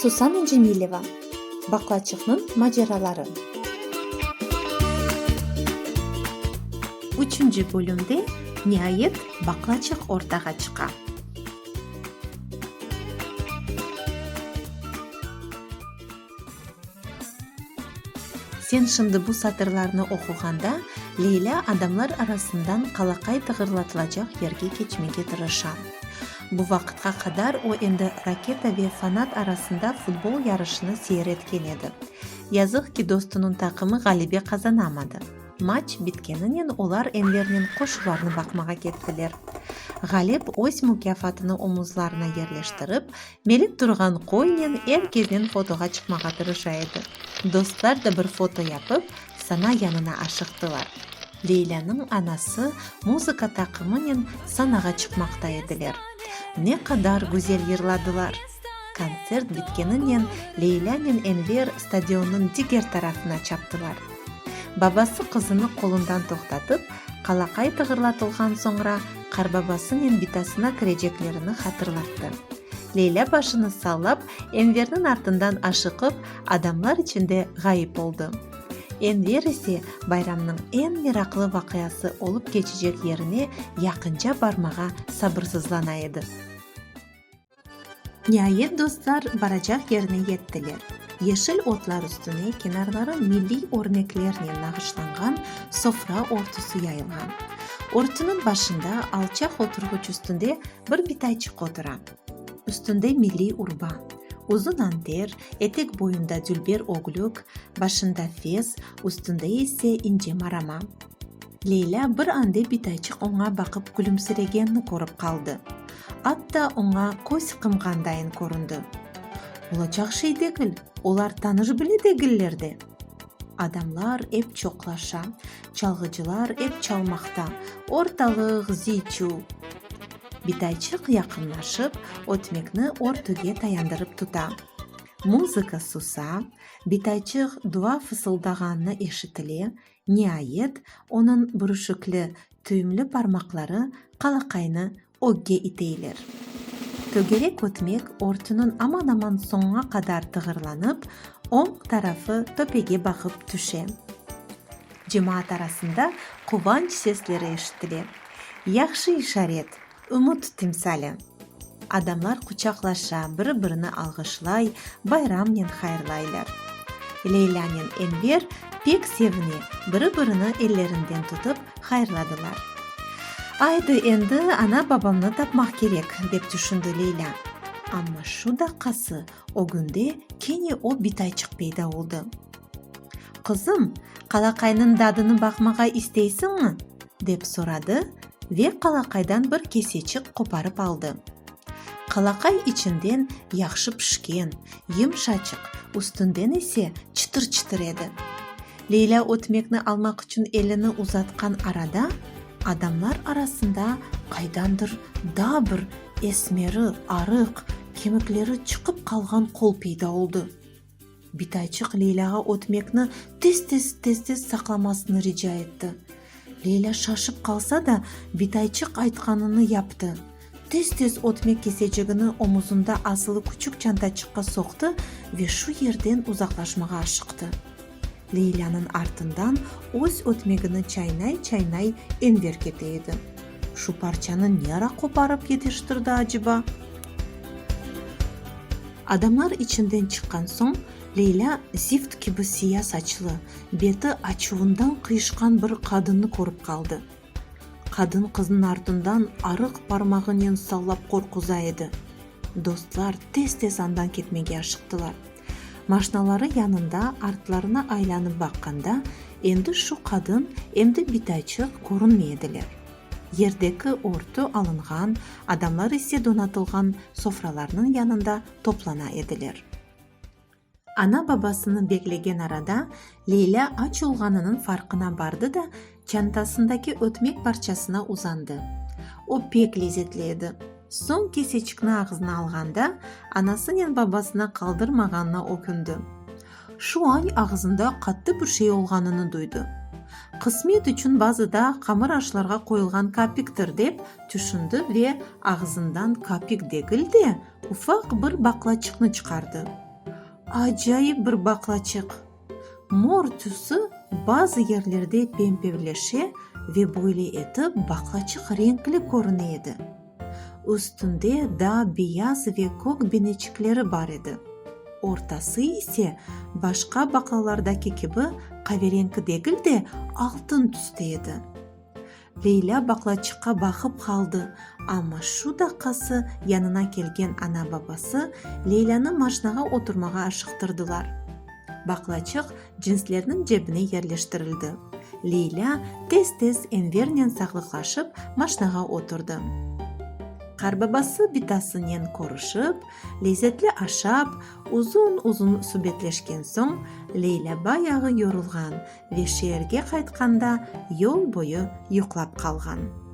Susana Cemileva, Baklaçıqnıñ maceraları. Üçünci bölümde, niayet, baklaçıq ortağa çıqa. Sen şimdi bu satırlarnı oquğanda, Leylâ adamlar arasından qalaqay tığırlatılacaq yerge keçmege tırışa. Bu vaqıtqa qadar o endi Raketa ve Fanat arasında futbol yarışını seyir etken edi. Yazıq ki, dostunıñ taqımı ğalebe qazanamadı. Maç bitkeninen olar Envernen qoşularnı baqmağa kettiler. Ğalep öz mukâfatını omuzlarına yerleştirip, Melik turğan qoynen er kedin fotoğa çıqmağa tırışa edi. Dostlar da bir foto yapıp, Sana yanına aşıqtılar. Leylâniñ anası muzıka taqımınen sanağa çıqmaqta ediler. Ne qadar güzel yırladılar! Kontsert bitkeninen Leylânen Enver stadionnıñ diger tarafına çaptılar. Babası qızını qolundan toqtatıp, qalaqay tığırlatılğan soñra, Qarbabasınen bitasına kireceklerini hatırlattı. Leylâ başını sallap, Enverniñ artından aşıqıp, adamlar içinde ğayıp oldı. Enver ise bayramnıñ eñ meraqlı vaqiası olıp keçecek yerine yaqınca barmağa sabırsızlana edi. Niayet dostlar baracaq yerine yettiler. Yeşil otlar üstüne kenarları milliy örneklernen nağışlanğan sofra örtüsi yayılğan. Örtüniñ başında alçaq oturğuç üstünde bir bitayçıq otura. Üstünde milliy urba, uzun anter, etek boyunda dülber ögülük, başında fes, üstünde ise ince marama. Leylâ bir ande bitayçıq oña baqıp külümsiregenini körip qaldı. Atta oña köz qımğandayın köründi. Olacaq şey degil, olar tanış bile degiller de! Adamlar ep çoqlaşa, çalğıcılar ep çalmaqta, ortalıq ziy-çuv. Bitayçıq yaqınlaşıp, ötmekni örtüge tayandırıp tuta. Muzıka susa, bitayçıq dua fısıldağanı eşitile, Niayet, onıñ bürüşikli, tüyümli parmaqları qalaqaynı ögge iteyler. Tögerek ötmek örtüniñ aman-aman soñuna qadar tığırlanıp, oñ tarafı töpege baqıp tüşe. Cemaat arasında quvanç sesleri eşitile. Yahşı işaret! Ümüt timsali. Adamlar quçaqlaşa, biri-birini alğışlay, bayramnen hayırlaylar. Leylânen Enver pek sevine, biri-birini ellerinden tutıp hayırladılar. Aydı, endi ana-babamnı tapmaq kerek, dep tüşündi Leylâ. Amma şu daqqası ögünde kene o bitayçıq peyda oldı. Qızım, qalaqaynıñ dadını baqmağa isteysiñmi? dep soradı Ve qalaqaydan bir keseçik qoparıp aldı. Qalaqay içinden yahşı pişken, yımşaçıq, üstünden ise çıtır-çıtır edi. Leylâ ötmekni almaq içün elini uzatqan arada, adamlar arasında qaydandır daa bir esmeri, arıq, kemikleri çıqıp qalğan qol peyda oldı. Bitayçıq Leylâğa ötmekni tez-tez, tez-tez saqlamasını rica etti. Leylâ şaşıp qalsa da, Bitayçıq aytqanını yaptı. Tez-tez ötmek kesecigini omuzında asılı küçük çantaçıqqa soqtı ve şu yerden uzaqlaşmağa aşıqtı. Leylânıñ artından öz ötmegini çaynay-çaynay Enver kete edi. Şu parçanı ne ara qoparıp yetiştirdi aceba? Adamlar içinden çıqqan soñ, Leylâ zift kibi siya saçlı, beti açuvından qıyışqan bir qadınnı körip qaldı. Qadın qıznıñ artından arıq parmağınen sallap qorquza edi. Dostlar tez-tez andan ketmege aşıqtılar. Maşnaları yanında artlarına aylanıp baqqanda, endi şu qadın, em de bitaçıq körünmey ediler. Yerdeki örtü alınğan, adamlar ise donatılğan sofralarnıñ yanında toplana ediler. Ana-babasını beklegen arada Leylâ aç olğanınıñ farqına bardı da, çantasındaki ötmek parçasına uzandı. O pek lezetli edi. Soñ keseçikni ağzına alğanda, anasınen babasına qaldırmağanına ökündi. Şu añ ağızında qattı bir şey olğanını duydı. Qısmet içün bazı da qamır aşlarğa qoyulğan kapiktir, dep tüşündi ve ağızından kapik degil de, ufaq bir baqlaçıqnı çıqardı. Acayip bir baqlaçıq! Mor tüsü bazı yerlerde pempevleşe ve böyle etip baqlaçıq renkli körüne edi. Üstünde daa beyaz ve kök beneçikleri bar edi. Ortası ise, başqa baqlalardaki kibi, qavereñki degil de, altın tüste edi. Leylâ baqlaçıqqa baqıp qaldı, amma şu daqqası yanına kelgen ana-babası Leylânı maşnağa oturmağa aşıqtırdılar. Baqlaçıq cinslerniñ cebine yerleştirildi. Leylâ tez-tez Envernen saqlıqlaşıp, maşnağa oturdı. Qarbabası bitasınen körüşip, lezzetli aşap, uzun-uzun subetleşken soñ, Leylâ bayağı yorulğan ve şeerge qaytqanda yol boyu yuqlap qalğan.